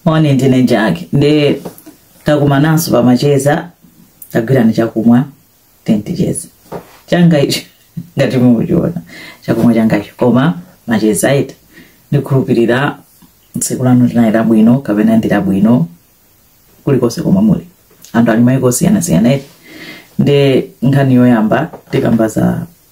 moni ndine Jack nde takumananso pamacheza tagwirani chakumwa tenti ticheza changa icho ngati mukuchiona chakumwa changacho koma macheza eti ndikhulupirira tsiku lanu linali labwino kapena ndi labwino kulikonse komwe muli anthu ali maiko osiyanasiyana eti nde nkhani yoyamba tikamba za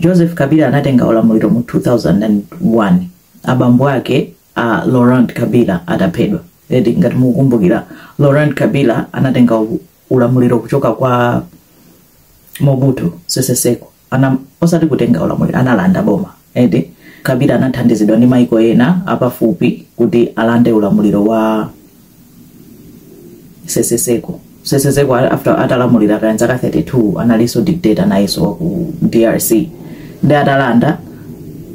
joseph kabila anatenga ulamuliro mu 2001 abambo ake a laurent kabila ataphedwa eti ngati mukukumbukira laurent kabila anatenga u- ulamuliro kuchoka kwa mobutu sese seko osati kutenga ulamuliro analanda boma Eti? Kabila anathandizidwa ndi maiko ena apafupi kuti alande ulamuliro wa seseseko seseseko a- after atalamulira kaya zaka 32 analinso dictator nayenso wa ku drc nde atalanda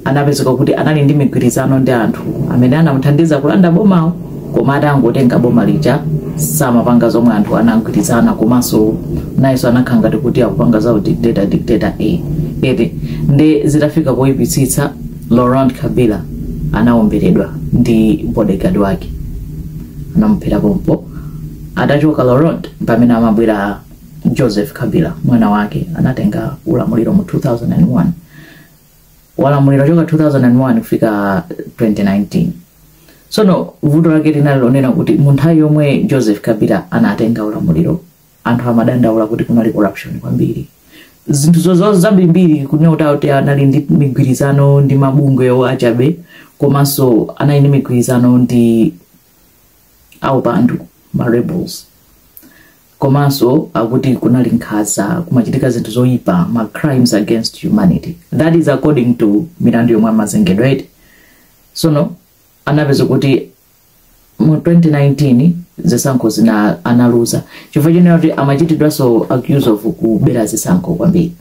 anapezeka kuti anali ndi migwirizano ndi anthu amene anamuthandiza kulanda bomawo koma atangotenga boma lija samapanga zomwe anthu anagwirizana komanso nayenso anakhala ngati kuti akupanga za dictator dictator eti nde zitafika poyipitsitsa laurent kabila anawomberedwa ndi bodyguard wake anamuphera pompo atachoka laurent pamene amabwera joseph kabila mwana wake anatenga ulamuliro mu 2001 walamulira choka 2001 kufika 2019 sono vuto lake linali lonena kuti munthawi yomwe joseph kabila anatenga ulamuliro anthu amadandaula kuti kunali corruption kwambiri zinthu zozo zambirimbiri kunena kuti akuti anali ndi migwirizano ndi mabungwewo achabe komanso anali ndi migwirizano ndi aupandu ma rebels komanso akuti kunali nkhanza kumachitika zinthu zoyipa ma crimes against humanity that is according to milandu yomwe amazengedwa eti sono anapezeka kuti mu 2019 zisankho zina analuza chifukwa chonena kuti amachitidwanso accuse of kubera zisankho kwambiri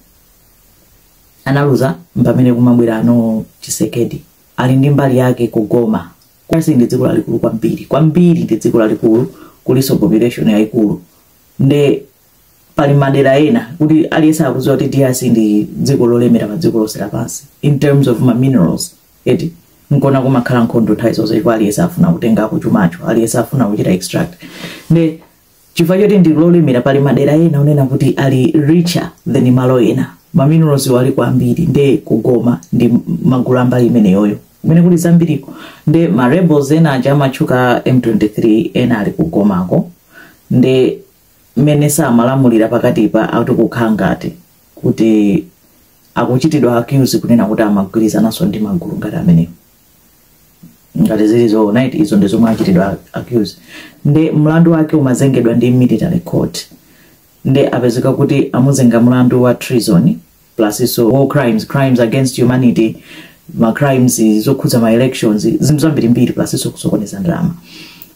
analuza mpamene kumabwera ano tshisekedi ali ndi mbali yake ku goma kwasi ndi dziko lalikulu kwambiri kwambiri ndi dziko lalikulu kulinso population yayikulu nde pali madera ena kuti aliyense akudziwa kuti drc ndi dziko lolemera pa dziko lonse lapansi in terms of ma minerals eti nkona kumakhala nkhondo nthawi zonse chifukwa aliyense afuna kutengako chumacho aliyense afuna kuchita extract nde chifukwa choti ndi lolemera pali madera ena onena kuti ali richer than malo ena maminerals-wo ali kwambiri nde ku goma ndi magulu ambali imeneyoyo kumene kuli zambiriko nde ma rebels ena aja amatchuka m23 ena ali ku gomako nde mmene samalamulira pakatipa akuti kukhala ngati kuti akuchitidwa accuse kunena kuti amagwirizananso ndi magulu ngati amenewo ngati zili zoona eti izo ndi zomwe achitidwa accuse nde mlandu wake umazengedwa ndi military court nde apezeka kuti amuzenga mlandu wa treason plus so war crimes crimes against humanity ma crimes zokhudza ma elections zinthu zambirimbiri plus so kusokoneza ndalama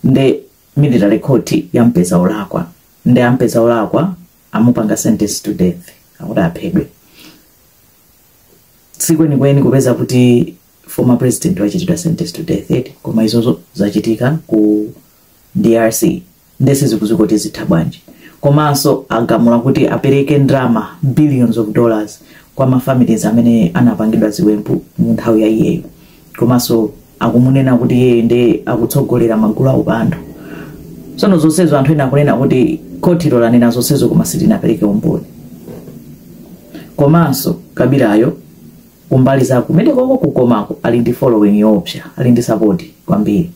nde military court yampeza olakwa nde ampeza olakwa amupanga sentence to death akuti aphedwe si kawirikawiri kupeza kuti former president wachitidwa sentence to death eti koma izozo zachitika ku drc nde sizikudziwika kuti zitha bwanji komanso agamula kuti apereke ndalama billions of dollars kwa mafamilies amene anapangidwa ziwembu mu nthawi ya iyeyo komanso akumunena kuti iye nde akutsogolera magulu a upandu tsono zonsezo anthu ena akunena kuti khotilo lanena zonsezo koma silinapereke umboni komanso kabilayo kumbali za kumenekoko ku gomako ali ndi following yoopsa ali ndi support kwambiri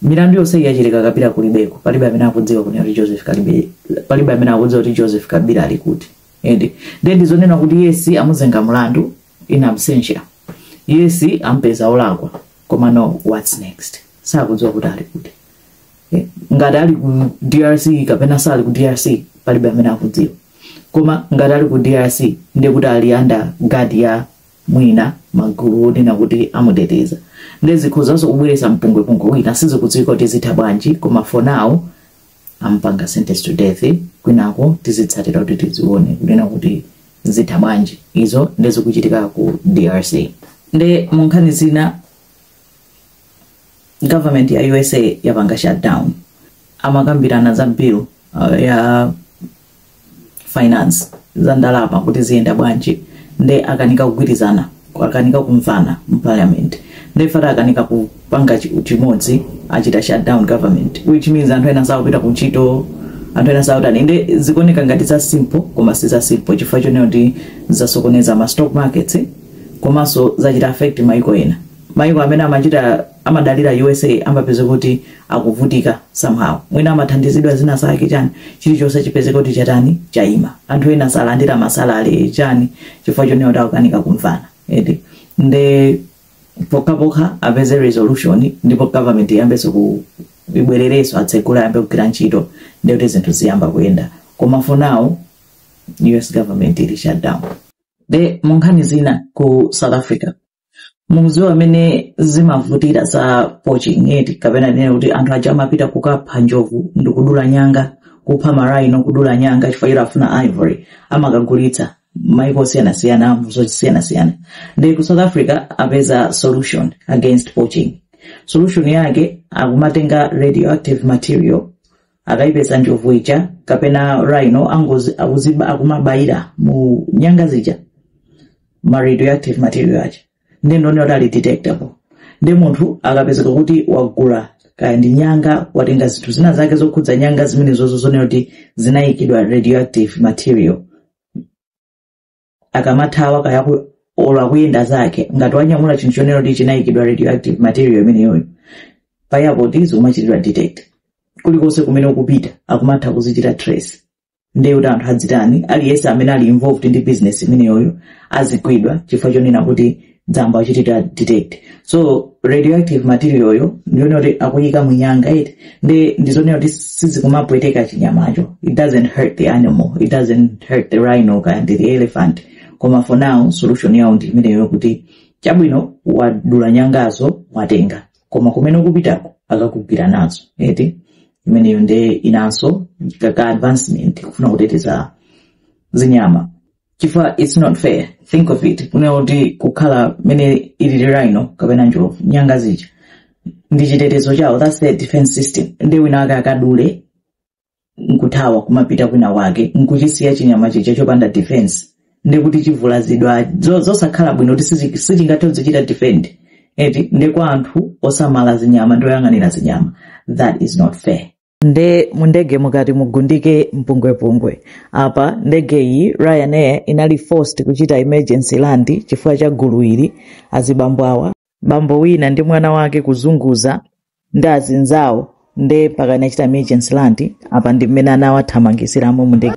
milandu yonse iyi yachitika kabila kulibeko palibe amene akudziwa kunena kuti joseph kabila palibe amene akudziwa kuti joseph kabila ali kuti ende then ndizonena kuti yes amuzenga mlandu in absentia yes ampeza olakwa koma no what's next sakudziwa kuti ali kuti Eh, ngati ali ku drc kapena sali ku drc palibe amene akudziwa koma ngati ali ku drc ndiye kuti ali under guard ya mwina magulu onena kuti amuteteza nde zikhozanso kubweretsa mpungwepungwe wina sizikudziwika kuti zitha bwanji koma for now ampanga sentence to death kwinako tizitsatira kuti tizione kunena kuti zitha bwanji izo nde zikuchitika ku drc nde munkhani zina government ya usa yapanga shutdown amakambirana za bill uh, ya finance za ndalama kuti ziyenda bwanji nde akanika kugwirizana akanika kumvana mu parliament nde after akanika kupanga chi- chimodzi achita shutdown government which means anthu ena sakupita ku ntchito anthu ena sakutani nde zikuoneka ngati za simple koma si za simple chifukwa chonena kuti zasokoneza ma stock markets eh, komanso zachita affect maiko ena maiko amene amachita amadalira usa amapezeka kuti akuvutika somehow mwina amathandizidwa zina zake chani chilichonse chipezeka kuti chatani chaima anthu ena salandira ma salary chani chifukwa chonena kuti akukanika kumvana eti nde pokhapokha apeze resolution ndipo government iyambenso ku ibwererenso atsegule ayambe kugwira ntchito nde kuti zinthu ziyamba kuyenda koma for now us government ili shut down nde munkhani zina ku south africa mukudziwa mmene zimavutira za poaching eti kapena nene kuti anthu aja amapita kukapha njovu ndi kudula nyanga kupha ma rhino kudula nyanga chifukwa choti afuna ivory amakagulitsa maiko osiyanasiyana mu zosiyanasiyana nde ku south africa apeza solution against poaching solution yake akumatenga radioactive material akaipeza njovu ija kapena rhino angozi akuziba akumabayira mu nyanga zija ma radioactive material aja nde ndonena kuti ali detectable nde munthu akapezeka kuti wagula kaya ndi nyanga watenga zinthu zina zake zokhudza nyanga zimenezozo zonena kuti zinayikidwa radioactive material akamathawa kaya ku- olo akuyenda zake ngati wanyamula chinthu chonena kuti chinayikidwa radioactive material imeneyoyo paja kuti zimachitidwa detect kulikonse kumene ukupita akumatha kuzichita trace ndiye kuti anthu adzitani aliyense amene ali involved ndi business imeneyoyo azigwidwa chifukwa chonena kuti izayamba kuchitidwa detect so radioactive material yo ndiyonena kuti akuyika munyanga eti nde ndizonena kuti sizikumapweteka chinyamacho it doesn't hurt the animal it doesn't hurt the rhino kaya ndi the elephant koma for now solution yawo ndi imeneyo kuti chabwino wadula nyangazo watenga koma kumene ukupitako akakugwira nazo eti imeneyo nde inanso kaka advancement kufuna kuteteza zinyama chifukwa its not fair think of it kunena kuti kukhala mmene ilili rhino kapena njovu nyanga zija ndi chitetezo chawo thats their defense system nde wina wake akadule nkuthawa kumapita kwina wake nkuchisiya chinyama chija chopanda defense nde kuti chivulazidwa zo- zosakhala bwino kuti sichi- sichingathe kuzichita defend eti nde kwa anthu osamala zinyama ndi oyang'anira zinyama that is not fair nde mundege mukati mubuke mpungwepungwe apa ndege iyi ryanair inali forced kuchita emergency land chifukwa cha gulu ili azibambo awa bambo wina ndi mwana wake kuzunguza ndi azinzawo nde mpaka inachita emergency land apa ndi mmene anawathamangitsiramo mundege